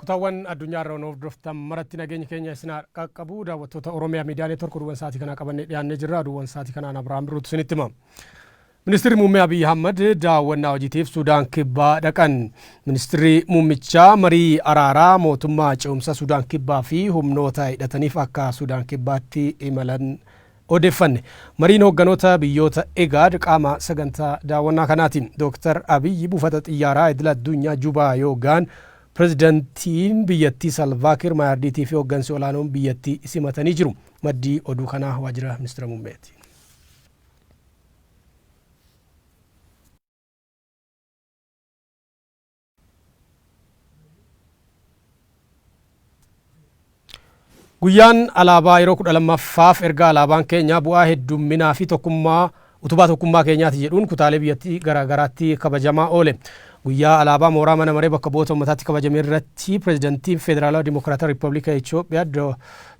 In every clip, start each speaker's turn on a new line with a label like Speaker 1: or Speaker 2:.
Speaker 1: Kutaawwan addunyaa irra nu hordoftan maratti nageenyi keenya isin haa qaqqabu daawwattoota Oromiyaa miidiyaa neetwork oduuwwan sa'aatii kanaa qabannee dhiyaannee jirra oduuwwan sa'aatii kanaan Abirahaam Birruutu isinitti hima. Ministirri Muummee Abiyyi Ahmad daawwannaa hojiitiif Sudaan Kibbaa dhaqan. Ministirri Muummichaa marii araaraa mootummaa ce'umsa Sudaan Kibbaa fi humnoota hidhataniif akka Sudaan Kibbaatti imalan Odeeffanne. Mariin hoogganoota biyyoota IGAD qaama sagantaa daawwannaa kanaati. Dooktar Abiyyi buufata xiyyaaraa idila addunyaa Jubaa yoo gahan Pirezidantiin biyyattii Salvaa Kiir Maayaardiitii fi hooggansi olaanoon biyyattii simatanii jiru. Maddi oduu kanaa waajjira Ministira Muummeeti. Guyyaan alaabaa yeroo kudha lammaffaaf erga alaabaan keenya bu'aa heddumminaa fi tokkummaa utubaa tokkummaa keenyaati jedhuun kutaalee biyyattii garaa garaatti kabajamaa oole. Guyyaa alaabaa mooraa mana maree bakka bu'oota uummataatti kabajame irratti pirezidantiin Federaalawaa Dimokiraatawaa Riippablika Itoophiyaa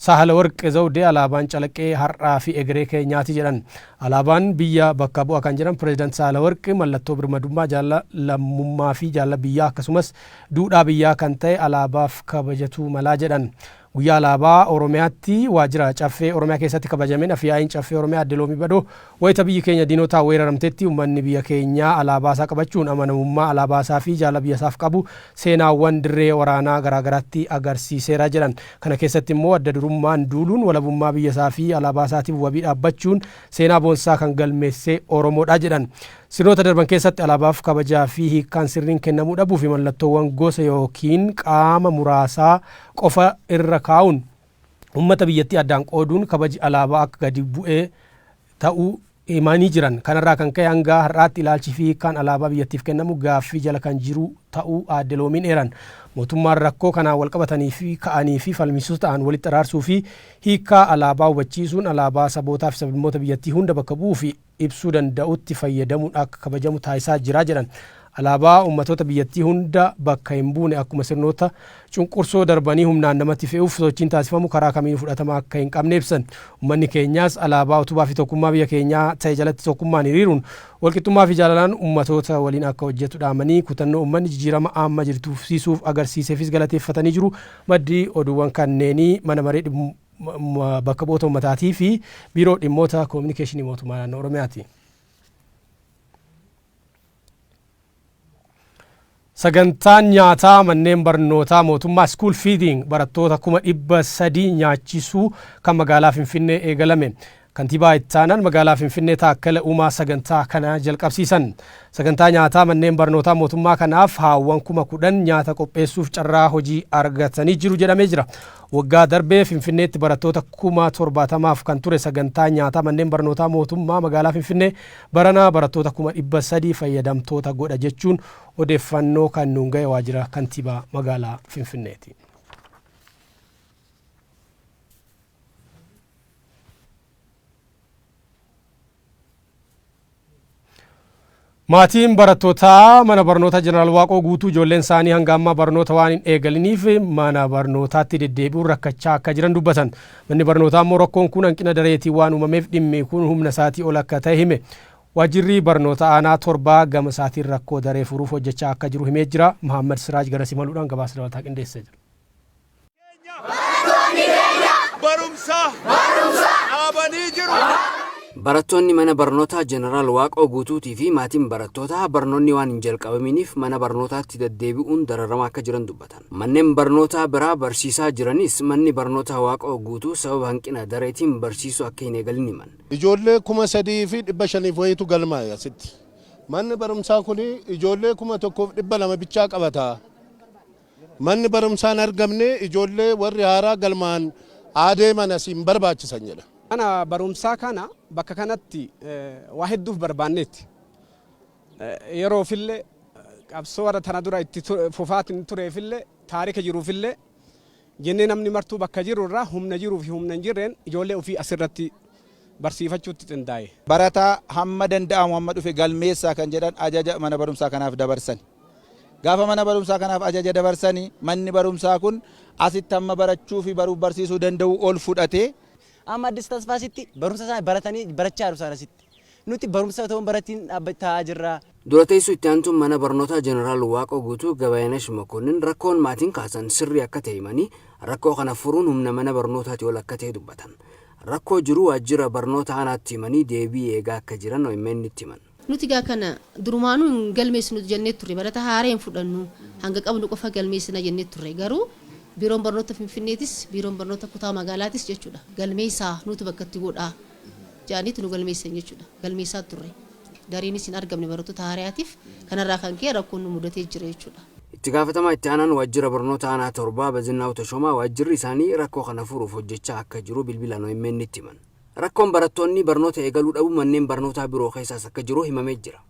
Speaker 1: Saahalawarq Zawdee alaabaan calaqqee har'aa fi egeree keenyaati jedhan. Alaabaan biyya bakka bu'a kan jedhan Pireezidant Saalawarq, mallattoo birmadummaa, jaalala lammummaafi jaalala biyyaa akkasumas duudhaa biyyaa kan ta'e alaabaaf kabajatuu mala jedhan. Guyyaa Alaabaa Oromiyaatti Waajjira Caffee Oromiyaa keessatti kabajameen Afyaa'iin Caffee Oromiyaa Aadde Loomii Badhoo, wayita biyyi keenya diinotaan weeraramtetti ummanni biyya keenyaa alaabaasaa qabachuun amanamummaa alaabaasaafi jaalala biyyasaaf qabu seenaawwan dirree waraanaa garaagaraatti agarsiiseera jedhan. Kana keessatti immoo adda durummaan duuluun walabummaa biyya isaa fi alaabaa isaatiif wabii dhaabbachuun seenaa boonsaa kan galmeesse Oromoodha jedhan. Sirnoota darban keessatti alaabaaf kabajaa fi hiikkaan sirriin kennamuu dhabuu fi mallattoowwan gosa ykn qaama muraasaa qofa irra kaa'uun ummata biyyattii addaan qooduun kabaji alaabaa akka gadi bu'e ta'uu himanii jiran. Kanarraa kan ka'e hanga har'aatti ilaalchi fi hiikkaan alaabaa biyyattiif kennamu gaaffii jala kan jiru ta'uu Aadde Loomiin eeran. Mootummaan rakkoo kanaan walqabatanii fi ka'anii fi falmisiisoo ta'an walitti araarsuu fi hiikkaa alaabaa hubachiisuun alaabaa sabootaa fi sablammoota biyyattii hunda bakka bu'uu fi ibsuu danda'utti fayyadamuun akka kabajamu taasisaa jira jedhan. Alaabaa ummatoota biyyattii hunda bakka hin buune akkuma sirnoota cunqursoo darbanii humnaan namatti fe'uuf sochiin taasifamu karaa kamiinuu fudhatama akka hin qabne ibsan. Ummanni keenyaas alaabaa utubaa fi tokkummaa biyya keenyaa ta'e jalatti tokkummaan hiriiruun walqixxummaa fi jaalalaan ummatoota waliin akka hojjetu dhaamanii, kutannoo ummanni jijiirama amma jirtu fufsiisuuf agarsiiseefis galateeffatanii jiru. Maddi oduuwwan kanneenii Mana Maree Bakka Bu'oota Ummataatii fi Biiroo Dhimmoota Kominikeeshinii Mootummaa Naannoo Oromiyaati. Sagantaan nyaataa manneen barnootaa mootummaa school feeding barattoota kuma dhibba sadii nyaachisuu kan magaalaa Finfinnee eegalame. Kantiibaa ittaanaan magaalaa Finfinnee Taakkala Uumaa sagantaa kana jalqabsiisan. Sagantaa nyaataa manneen barnootaa mootummaa kanaaf haawwan kuma kudhan nyaata qopheessuuf carraa hojii argatanii jiru jedhamee jira. Waggaa darbee Finfinneetti barattoota kuma torbaatamaaf kan ture sagantaa nyaataa manneen barnootaa mootummaa magaalaa Finfinnee Barana barattoota kuma 300 fayyadamtoota godha jechuun odeeffannoo kan nuun gahe waajjira kantiibaa magaalaa Finfinneeti. Maatiin barattootaa mana barnoota Jeneraal Waaqoo Guutuu ijoolleen isaanii hanga ammaa barnoota waan hin eegaliniif mana barnootaatti deddeebi'uun rakkachaa akka jiran dubbatan. Manni barnootaa immoo rakkoon kun hanqina dareetiin waan uumameef dhimmi kun humna isaatii ol akka ta'e hime. Waajjirri Barnoota Aanaa Torbaa gama isaatiin rakkoo daree furuuf hojjechaa akka jiru himee jira. Mahaammad Siraaj garas imaluudhaan gabaasa dabalataa qindeessee jira.
Speaker 2: Barattoonni mana barnootaa Jeneraal Waaqoo Guutuutii fi maatiin barattootaa barnoonni waan hin jalqabaminiif mana barnootaatti daddeebi'uun dararamaa akka jiran dubbatan. Mannen barnootaa biraa barsiisaa jiranis manni barnootaa Waaqoo Guutuu sababa hanqina dareetiin barsiisuu akka hin eegalin himan. Ijoollee
Speaker 3: 3500 wayiitu galmaa'e asitti. Manni barumsaa kun ijoollee 1200 bichaa qabata. Manni barumsaa hin argamne ijoollee warri haaraa galmaa'an haa deeman asii hin barbaachisan jedha. Mana barumsaa
Speaker 4: kana bakka kanatti waa hedduuf barbaanneetti. Yeroofille qabsoo warra tana dura itti fufaatiin tureefille taarika jiruufille jennee namni martuu bakka jiru irraa humna jiruu fi humna hin jirreen ijoollee ofii as irratti barsiifachuutti qindaaye. Barataa hamma
Speaker 5: danda'amu hamma dhufe galmeessaa kan jedhan ajaja mana barumsaa kanaaf dabarsani. Gaafa mana barumsaa kanaaf ajaja dabarsani manni barumsaa kun asitti hamma barachuu fi baruuf barsiisuu danda'uu ol
Speaker 6: fudhatee. Amma Addis
Speaker 5: Tasfaasitti
Speaker 6: barumsa isaanii
Speaker 5: baratanii
Speaker 6: barachaa jiru isaan
Speaker 5: asitti.
Speaker 6: Nuti barumsa otoo hin baratiin dhaabba taa'aa jirra. Dura teessuu itti aantuun
Speaker 2: mana barnootaa Jeneraal Waaqoo Guutuu Gabayanash Makonnin rakkoon maatiin kaasan sirrii akka ta'e himanii, rakkoo kana furuun humna mana barnootaatii ol akka ta'e dubbatan. Rakkoo jiru waajjira barnoota aanaatti himanii deebii eegaa akka jiran OMNtti himan. Nuti egaa kana
Speaker 7: durumaanuu hin galmeessinu jennee turre. Barataa haaraa hin fudhannu. Hanga qabnu qofa galmeessina jennee turre. Garuu Biiroon Barnoota Finfinneetis, Biiroon Barnoota Kutaa Magaalaatis jechuudha galmeessaa nuutu bakka itti godhaa. jedhaniiti nu galmeessisan jechuudha. Galmeessaa turre. Gariinis hin argamne barattoota haarayaatiif. Kanarraa kan ka'e rakkoon nu mudatee jira jechuudha. Itti gaafatamaa itti
Speaker 2: aanaan waajjira barnoota aanaa Torbaa Bazinnaaw Tashoomaa waajjirri isaanii rakkoo kana furuuf hojjechaa akka jiru bilbilaan OMNtti himan. Rakkoon barattoonni barnoota eegaluu dhabuu manneen barnootaa biroo keessaas akka jiru himamee jira.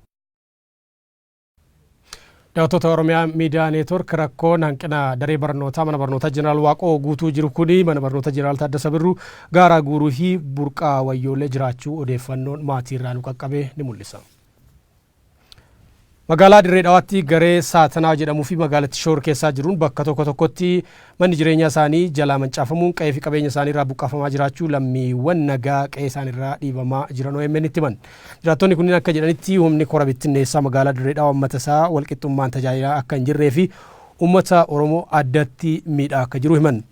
Speaker 1: Daawwattoota Oromiyaa Miidiyaa Neetwork rakkoon hanqina daree barnootaa mana barnootaa Jeneraal Waaqoo guutuu jiru kuni mana barnoota Jeneraal Taaddasa Birruu gaaraa guuruu fi burqaa wayyoolee jiraachuu odeeffannoon maatii irraa nu qaqqabe ni mul'isa. Magaalaa Dirree Dhawaatti garee Saatanaa jedhamuu fi magaalatti shoor keessaa jiruun bakka tokko tokkotti Manni jireenyaa isaanii jalaa mancaafamuun qa'ee fi qabeenya isaanii irraa buqqaafamaa jiraachuu lammiiwwan nagaa qe'ee isaanii irraa dhiibamaa jiran OMN'tti himan. Jiraattonni kunniin akka jedhanitti humni kora bittinneessaa magaalaa Dirree Dhawaa uummata isaa walqixxummaan tajaajilaa akka hin jirree fi uummata Oromoo addatti miidhaa akka jiru himan.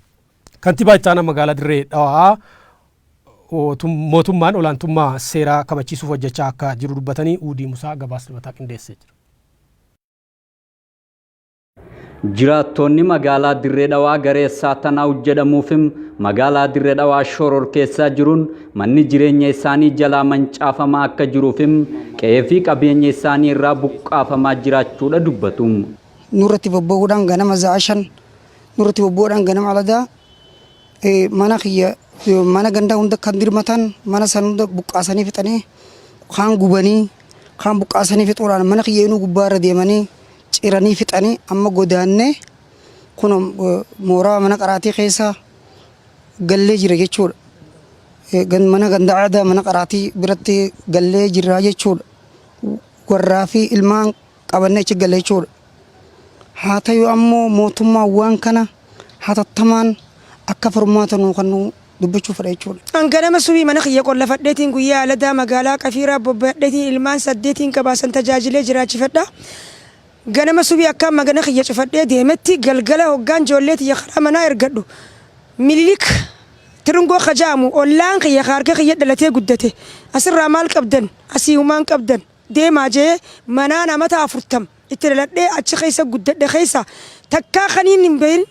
Speaker 1: Kantibaa itti aanaa magaalaa Dirree Dhawaa mootummaan olaantummaa seeraa kabachiisuuf hojjechaa akka jiru dubbatanii Uudii Musaa gabaasa dabalataa qindeessee jira.
Speaker 8: Jiraattoonni magaalaa Dirree Dhawaa garee Saatanaaw jedhamuufim magaalaa Dirree Dhawaa shororkeessaa jiruun manni jireenya isaanii jalaa mancaafamaa akka jiruufim qe'ee fi qabeenya isaanii irraa buqqaafamaa jiraachuudha dubbatu. Nurratti
Speaker 9: bobba'uudhaan ganama za'a shan nurratti bobba'uudhaan ganama aladaa mana kiyya mana gandaa hunda kan dirmatan mana san hunda buqqaasanii fixanii kaan gubanii kaan buqqaasanii fixuudhaan mana kiyya inuu gubbaa irra deemanii ciranii fixanii amma godaannee kuno mooraa mana qaraatii keessa gallee jira jechuudha. Gan- Mana ganda aadaa mana qaraatii biratti gallee jirraa jechuudha. Warraa fi ilmaan qabannee achi galle jechuudha. Haa ta'u ammoo mootummaan waan kana hatattamaan akka furmaata nuu kennuu dubbachuu fedha jechuudha. An ganama subii mana kiyya
Speaker 10: qollafadheetiin guyyaa aladaa magaalaa Qafiiraa bobbayadheetiin ilmaan saddeetiin qaba san tajaajilee jiraachifadha. Ganama subii akkaan magana kiyya cufadhee deemetti galgala hoggaan joollee tiyya karaa manaa ergadhu Mililik Tirngoo ka ja'amu ollaan kiyya ka harka kiyya dhalatee guddate asirraa maal qabdan asii humaa hin qabdan deemaa je'ee manaan amata afurtam itti dhaladhee achi keessa guddadhe keessa takkaa kaniin hin beyin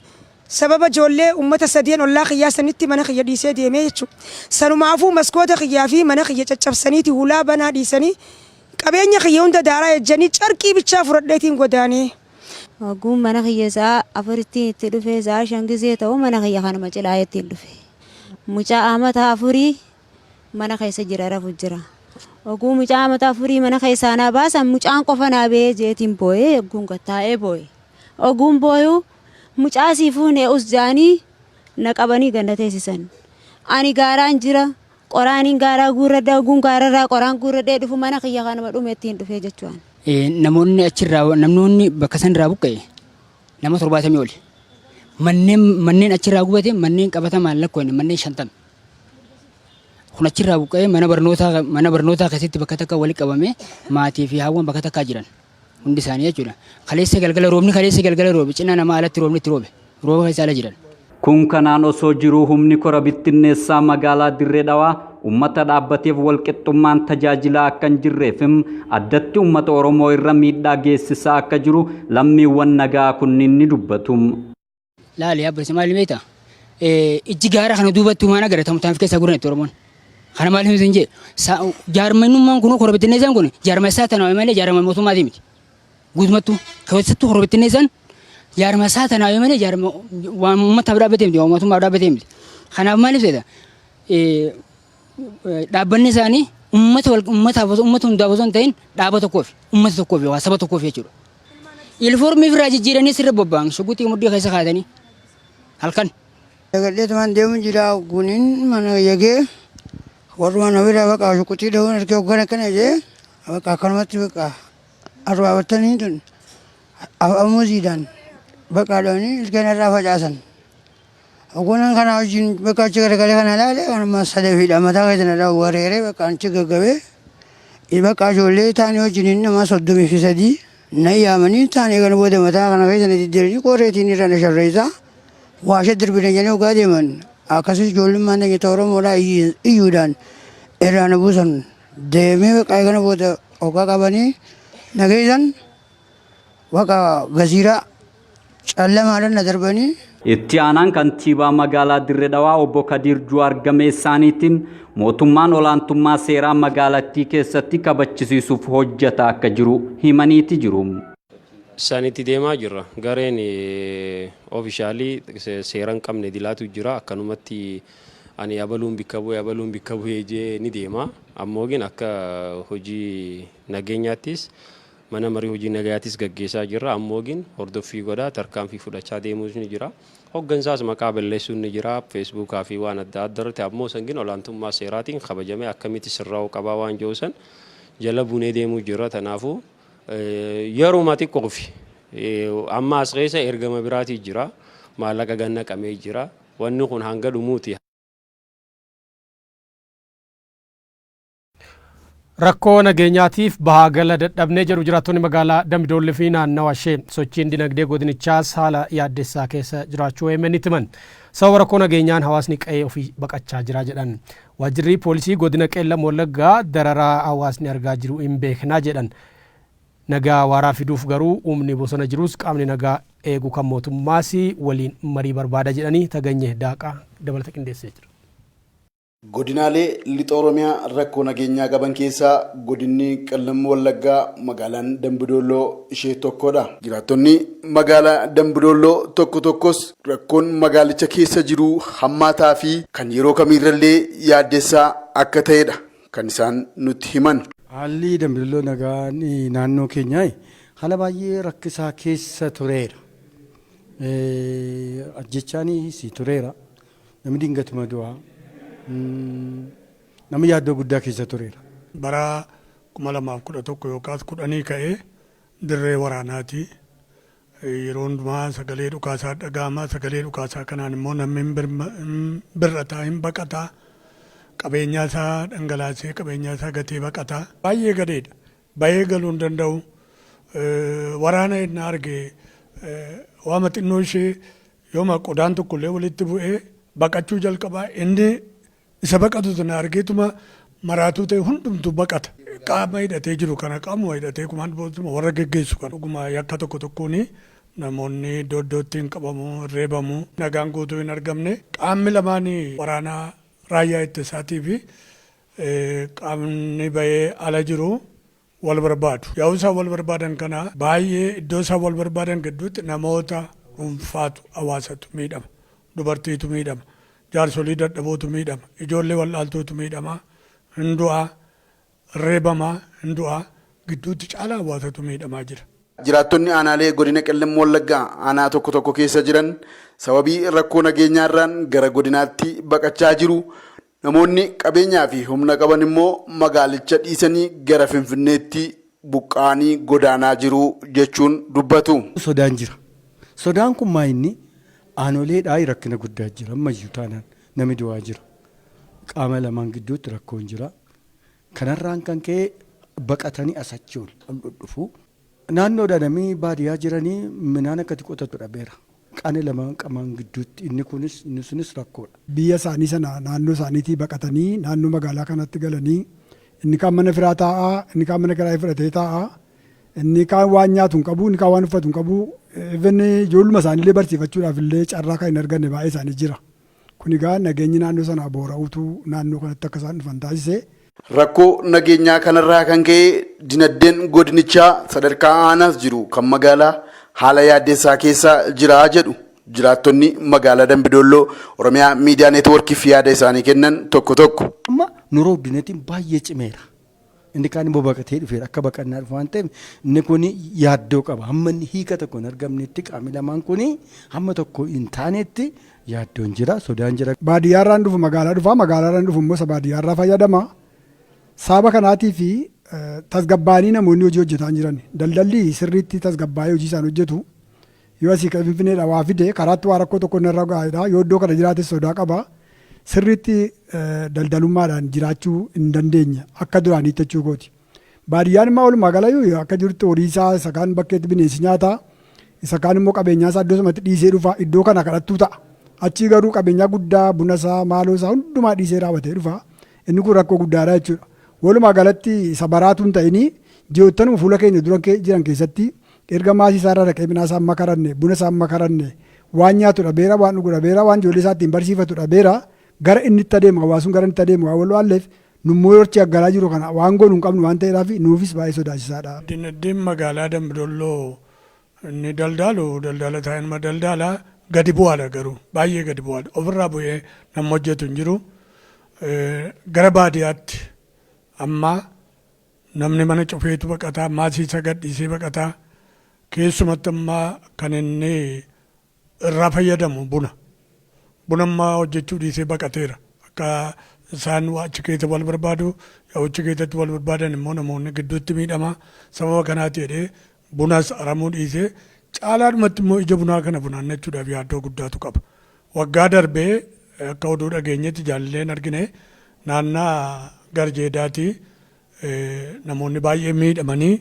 Speaker 10: Sababa ijoollee ummata sadeen ollaa kiyyaa sanitti mana kiyya dhiisee deemee jechu. Sanumaafuu maskoota kiyyaa fi mana kiyya caccabsaniiti hulaa banaa dhiisanii qabeenya kiyya hunda daaraa ejjanii carqii bichaa fudhadheetiin godaanee. Hogguun
Speaker 11: mana kiyya sa'a afurittiin itti dhufe sa'a shan gizee ta'u mana kiyya kanuma cilaayeettiin dhufe. Mucaa amata afurii mana keessa jira rafu jira. Hogguu mucaa amata afurii mana keessaa naa baasan mucaan qofa naa bahee jeetiin booyee hogguun gad taa'ee booye. Hogguun booyuu. Mucaa sii fuune us ja'anii na qabanii gad na teessisan. Ani gaaraan jira, qoraaniin gaaraa guurradha, hogguun gaararraa qoraan guurradhee dhufu mana kiyya kanuma dhumettiin dhufe jechu'an. Namoonni
Speaker 12: achirraa, namnoonni bakka sanirraa buqqa'e nama 70 oli. Manneen, manneen achirraa gubate manneen qabatamaan lakkoofne manneen 50. Kun achirraa buqqa'ee mana barnootaa, mana barnootaa keessatti bakka takka wali qabamee maatii fi haawwan bakka takkaa jiran. Hundi isaanii jechuudha. Kaleessa galgala roobni kaleessa galgala roobe cinaa namaa alatti roobni itti roobe. Rooba keessa ala jiran. Kun kanaan
Speaker 8: osoo jiruu humni kora bittinneessaa magaalaa Dirree Dhawaa ummata dhaabbateef walqixxummaan tajaajilaa akka hin jirree fi addatti ummata Oromoo irra miidhaa geessisaa akka jiru lammiiwwan nagaa kunniin ni dubbatu. Laali
Speaker 12: abba isa maal beekta? Ijji gaara kana duubatti waan agaratamu taanf keessaa guuran itti Oromoon. Kana maal himtu hin jee? Jaarmannummaan kun kora bittinneessaan kun jaarma isaa tanaa malee jaarma mootummaatii miti. Guutumattuu keessattuu kora bittinneessaan jaarma isaa tanaa malee jaarma waan uummataaf dhaabbatee miti waan mootummaaf dhaabbatee miti. Kanaaf maal ibseeta? dhaabbanni isaanii ummata wal ummataaf osoo ummata hundaaf osoo hin ta'in dhaaba tokkoof ummata tokkoof yookaan saba tokkoof jechuudha. Ilfoormii ofirraa jijjiiranii sirra bobba'an shuguxii muddii keessa kaatanii halkan. Dagadheetumaan
Speaker 9: deemu jira guuniin mana yagee warrumaan ofirraa baqa shuguxii dhahuun erga hoggan akkana jee baqa akkanumatti baqa arbaa battanii tun afamuuziidhaan baqa dhahanii ilkeen irraa facaasan. Hoggunan kanaa wajjin bakka achi garagalee kana ilaale kanuma sadafiidha mataa keessa na dhahu wareeree bakka achi gaggabee bakka ijoollee taanii wajjin nama soddomii fi sadii na yaamanii taanii kana booda mataa kana keessa na diddiranii qorreetiin irra na sharreessaa waasha dirbina jedhanii hoggaa deeman akkasumas ijoollummaan na nyata Oromoodhaa iyyuudhaan irraa na buusan deemee bakka kana booda hoggaa qabanii na geessan Waqa Gaziiraa callamaadhan na darbanii. Itti aanaan
Speaker 8: kantiibaa magaalaa Dirre Dhawaa obbo Kadiir Juwaar gama isaaniitiin mootummaan olaantummaa seeraa magaalattii keessatti kabachisiisuuf hojjataa akka jiru himaniiti jiru. sanitti
Speaker 13: deemaa jirra. Gareen ofishaalii seera hin qabne idilaatu jira. Akkanumatti ani abaluun bikka bu'e abaluun bikka bu'e jee ni deema. Ammoo gin akka hojii nageenyaattis Mana Marii Hojii Nagayaatis gaggeessaa jirra. Ammoogin hordoffii godhaa, tarkaanfii fudhachaa deemuus ni jira. Hoggansaas maqaa balleessuun ni jira. Feesbuukaa fi waan adda adda irratti ammoo san gin olaantummaa seeraatiin kabajamee akkamitti sirraa'uu qabaa waan jedhu san jala bunee deemuu jirra. Tanaafuu yeruma xiqqoofi amma as keessa ergama biraatii jira. Maallaqa gad naqamee jira. Wanni kun hanga dhumuuti.
Speaker 1: Rakkoo nageenyaatiif bahaa gala dadhabne jedhu jiraattonni magaalaa Dambidoollee fi naannawa ishee. Sochiin dinagdee godinichaas haala yaaddessaa keessa jiraachuu OMNtti himan. Sababa rakkoo nageenyaan hawaasni qa'ee ofii baqachaa jira jedhan. Waajjirri poolisii godina Qeellam Wallaggaa dararaa hawaasni argaa jiru hin beekna jedhan. Nagaa waaraa fiduuf garuu humni bosona jirus qaamni nagaa eegu kan mootummaas waliin marii barbaada jedhanii Taganyeh Daaqaa dabalata qindeessee jira.
Speaker 14: Godinaalee Lixa Oromiyaa rakkoo nageenyaa qaban keessaa Godinni Qellem Wallaggaa magaalaan Dambi Doolloo ishee tokkodha. Jiraattonni magaalaa Dambi Doolloo tokko tokkos rakkoon magaalicha keessa jiru hammaataa fi kan yeroo kamiirrallee yaaddessaa akka ta'edha kan isaan nutti himan. Haalli Dambi Dolloo
Speaker 15: nagaan naannoo keenyaa haala baay'ee rakkisaa keessa tureera. Ajjeechaanis tureera. Namni dingatuma du'a. Namni yaaddoo guddaa keessa tureera. Bara 2011
Speaker 16: yookaas kudhanii ka'ee dirree waraanaati. Yeroo hundumaa sagalee dhukaasaa dhaga'ama. Sagalee dhukaasaa kanaan immoo namni hin birma- hin bir'ata, hin baqata. Qabeenyaa isaa dhangalaasee qabeenyaa isaa gatee baqata. Baay'ee gadeedha. Bahee galuu hin danda'u. Eh, Waraana ennaa arge eh, waama xinnoo ishee Yooma qodaan tokko illee walitti bu'ee baqachuu jalqaba, inni isa baqatu sana argeetuma maraatuu ta'e hundumtuu baqata. Qaama hidhatee jiru kana qaamuma hidhatee kumaan bootuma warra geggeessu kana dhuguma yakka tokko tokkoon namoonni iddoo iddootti hin qabamu, hin reebamu, nagaan guutuu hin argamne. Qaamni lamaan waraana raayyaa ittisaatii fi qaamni bahee ala jiru wal barbaadu. Yaa'uu isaan wal barbaadan kana baay'ee iddoo isaan wal barbaadan gidduutti namoota dhuunfaatu, hawaasatu miidhama. Dubartiitu miidhama. Jaarsolii dadhabootu miidhama. Ijoollee wal'aaltuutu miidhama. Hin du'a. Reebama. Hin du'a. Gidduutti caalaa hawaasatu miidhamaa jira. Jiraattonni aanaalee
Speaker 14: godina Qellem Wallaggaa aanaa tokko tokko keessa jiran sababii rakkoo nageenyaarraan gara godinaatti baqachaa jiru. Namoonni qabeenyaa fi humna qaban immoo magaalicha dhiisanii gara Finfinneetti buqqa'anii godaanaa jiru jechuun dubbatu. Sodaan jira.
Speaker 15: Sodaan kun maa inni aanoleedhaa rakkina guddaa jira ammayyuu taanaan nami du'aa jira. Qaama lamaan gidduutti rakkoon jira. Kanarraan kan ka'e baqatanii as achi ol dhudhufu. Naannoodha nami baadiyaa jiranii minaan akkati qotatu dhabeera. Qani lamaan qamaan gidduutti inni kunis inni sunis rakkoodha. Biyya isaanii sana
Speaker 17: naannoo isaaniitii baqatanii naannoo magaalaa kanaatti galanii inni kaan mana firaa taa'a, inni kaan mana kiraayii fudhatee taa'a, inni kaan waan nyaatu hin qabu, inni kaan waan uffatu hin qabu, even ijoolluma isaaniillee barsiifachuudhaaf illee carraa kan hin arganne baay'ee isaanii jira. Kun egaa nageenyi naannoo sanaa boora'uutu naannoo kanatti akka isaan dhufan taasise. Rakkoo
Speaker 14: nageenyaa kanarraa kan ka'e dinaddeen godinichaa sadarkaa aanaas jiru kan magaalaa haala yaaddessaa keessa jira jedhu jiraattonni magaalaa Dambi Doolloo Oromiyaa Miidiyaa Neetwoorkiif yaada isaanii kennan tokko tokko. Amma Nuroog
Speaker 15: Dinetiin baay'ee cimeera. Inni kaan immoo baqatee dhufeera. Akka baqannaa dhufu waan ta'eef inni kun yaaddoo qaba. Hamma inni hiika tokko hin argamnetti qaamni lamaan kun hamma tokko hin taanetti yaaddoon jira, sodaan jira. Baadiyyaarraan dhufu magaalaa
Speaker 17: dhufa, magaalaarraan dhufu immoo isa baadiyyaarraa fayyadama. Sababa kanaatiif tasgabbaa'anii namoonni hojii hojjetaa hin jiran. Daldalli sirriitti tasgabbaa'ee hojii isaan hojjetu. Yoo asii ka'e Finfinneedhaa waa fide karaatti waa rakkoo tokko narra gaa'edha. Yoo iddoo kana jiraates sodaa qaba. Sirriitti daldalummaadhaan jiraachuu hin dandeenye akka duraaniitti jechuu kooti. Baadiyyaan immoo walumaa galayyuu akka jirutti horii isaa isa kaan bakkeetti bineensi nyaata. Isa kaan immoo qabeenyaa isaa iddoo sanatti dhiisee dhufa. Iddoo kana kadhattuu ta'a. Achii garuu qabeenyaa guddaa buna isaa maaloo isaa hundumaa dhiisee raawwatee dhufa. Inni kun rakkoo guddaadha jechuudha. Walumaa galatti isa baraatuun ta'inii ji'oottanuma fuula keenya dura jiran keessatti Erga maasii isaarraa dhaqee midhaan isaa hin makaranne, buna isaa hin makaranne, waan nyaatu dhabeera, waan dhugu dhabeera, waan ijoollee isaa ittiin barsiifatu dhabeera. Gara inni itti adeemu, hawaasni sun gara inni itti adeemu waan wal waalleef nu immoo yoo achi aggaraa jirru kana waan goonu hin qabnu waan ta'eedhaafi nuufis baay'ee sodaachisaa dha. Dinagdeen magaalaa
Speaker 16: Dambi Dolloo inni daldaalu daldaala taa'ee nama daldaala. Gadi bu'aa dha garuu baay'ee gadi bu'aa dha. Ofirraa bu'ee namni hojjetu hin jiru. Gara baadiyaatti amma Namni mana cufeetu baqata, maasii isaa gad dhiisee baqata. Keessumatti amma kan inni irraa fayyadamu buna. Buna amma hojjechuu dhiisee baqateera. Akka isaan achi keessa wal barbaadu, yoo achi keessatti wal barbaadan immoo namoonni gidduutti miidhama. Sababa kanaati jedhee Bunas aramuu dhiisee caalaadhumatti immoo ija bunaa kana funaannachuudhaaf yaaddoo guddaatu qaba. Waggaa darbe akka oduu dhageenyetti jaalleen argine naannaa Garjeedaatii namoonni baay'een miidhamanii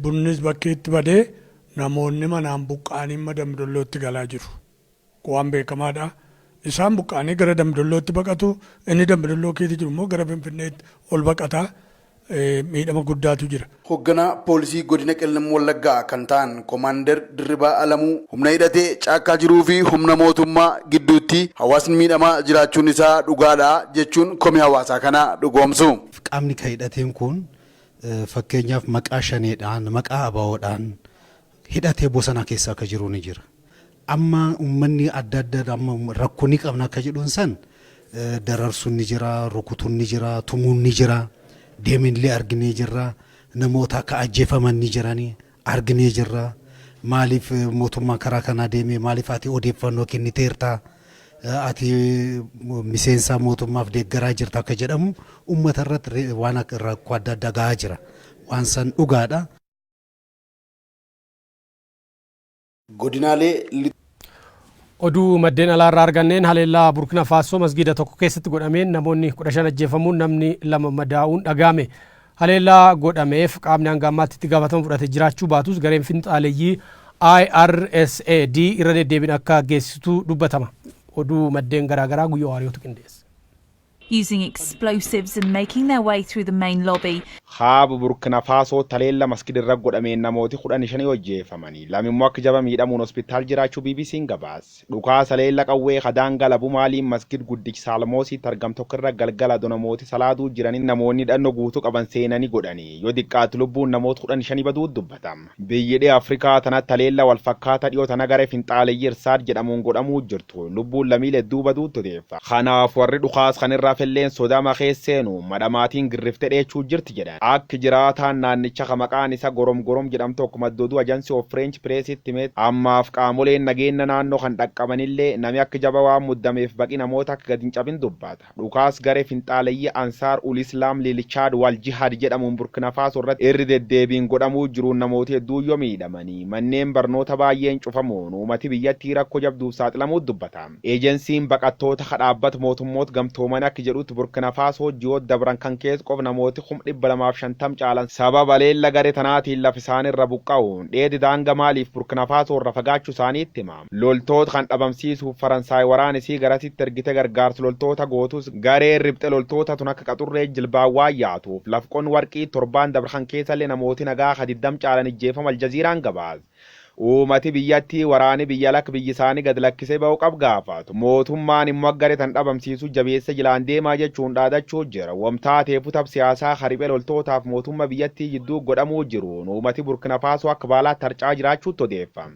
Speaker 16: bunnis bakkeetti badee namoonni manaan buqqa'anii amma Dambi Dollootti galaa jiru. waan beekamaa dha. Isaan buqqa'anii gara Dambidollootti baqatu, inni Dambidolloo keessa jiru immoo gara Finfinneetti ol baqata. Miidhama guddaatu jira. Hogganaa Poolisii
Speaker 14: Godina Qellem Wallaggaa kan ta'an Komaander Dirribaa Alamuu, humna hidhatee caakkaa jiruu fi humna mootummaa gidduutti hawaasni miidhamaa jiraachuun isaa dhugaa dha jechuun komii hawaasaa kana dhugoomsu. Qaamni ka hidhateen
Speaker 18: kun fakkeenyaaf maqaa Shanee dhaan, maqaa abo dhaan hidhatee bosona keessa ka jiru ni jira. Amma ummanni adda adda amma rakko ni qabna akka jedhun san dararsun ni jira, rukutun ni jira, tumun ni jira, deminle arginee jirra, namoota akka ajjefaman ni jirani arginee jirra, maalif motumman karaa kanaa deeme maalif ati odeffanno kenniteerta, ati miseensa motummaf deggaraa jirta akka jedhamu ummata irrat waan rakko adda adda gahaa jira. Waan san dhugaadha.
Speaker 14: Godinaalee Lixa.
Speaker 1: Oduu maddeen alaa irraa arganneen haleellaa Burkina Faasoo masgiida tokko keessatti godhameen namoonni 15 ajjeefamuun namni lama madaa'uun dhaga'ame. Haleellaa godhameef qaamni hanga ammaatti itti gaafatama fudhate jiraachuu baatus gareen finxaaleyyii IRSAD irra deddeebiin akka geessistu dubbatama. Oduu maddeen garaagaraa Guyyoo Waariyootu qindeesse. using
Speaker 19: explosives and making their way through the main lobby. Kaaba Burkina
Speaker 20: Faasoo taleella masgid irra godhameen namooti 15 ojjeefamani, lama immoo akk jaba miidhamuun hospitaal jiraachuu BBCn gabaase. Dhukaasa taleella qawwee ka daangaa labu Maaliin masgid guddich Saalmoosiitti argam tokko irra galgala ado namooti salaaduu jiranitti namoonni hidhanno guutu qaban seenani godhani, yo diqqaattu lubbuun namoota 15 baduu dubbatam. Biyyi dhiha Afrikaa tanatti haleellaa wal fakkaataa dhiyoo tana garee finxaaleyyii Irsaad jedhamuun godhamuu jirtu lubbuun lamiile hedduu baduutti odeeffa. Kanaaf warri dhukaas kan irra hafelleen sodaama keessa seenuun madhamaatiin girriftee dheechuu jirti jedhan. Akk jiraataan naannicha ka maqaan isa Gorom Gorom jedhamu tokko madda oduu Agency of French Press'tti himetti, ammaaf qaamoleen nageenna naannoo kan dhaqqabanillee nami akk jaba waan muddameef baqi namoota akk gad hin cabin dubbata. Dhukaas garee finxaaleyyii Ansaar ul Islaam lil Chad wal Jihad jedhamuun Burkina Faso irratti irri deddeebiin godhamuu jiruun namooti hedduun yoo miidhamanii, manneen barnoota baayyeen cufamuun uumati biyyattii rakko jabduuf saaxilamuut dubbata. Ejensiin baqattoota ka dhaabbat mootummoot gamtoomani akk jedhutt Burkina Faso ji'oot dabran kan kees qof namooti kum 250 caalan sabab haleella gare tanaatiin laf isaanirra buqqa'uun dheedi daanga Maaliif Burkina Faso irra fagaachu isaaniitt hima. Loltoota kan dhabamsiisuuf Faransaay waraana isii garasitti ergite gargaarsa loltoota gootus gareen ripxe loltoota tun akka qaxurree jilbaan waan yaatuuf lafqon warqii torbaan dabre kan keessallee namooti nagaa ka 20 caalan ijjeefamu Aljaziiraan gabaase. Uumati biyyattii waraani biyya alakk biyyi isaanii gad lakkisee bahu qab gaafatu. Mootummaan immoo akka garee tan dhabamsiisu jabeessee jilaan deemaa jechuun dhaadachuu jira. Wam taateefuu tab siyaasaa ka riphee loltootaaf mootumma biyyattii jidduu godhamuu jiruun uumati Burkina Faasoo akka baalaatti harca'aa jiraachuutti odeeffam.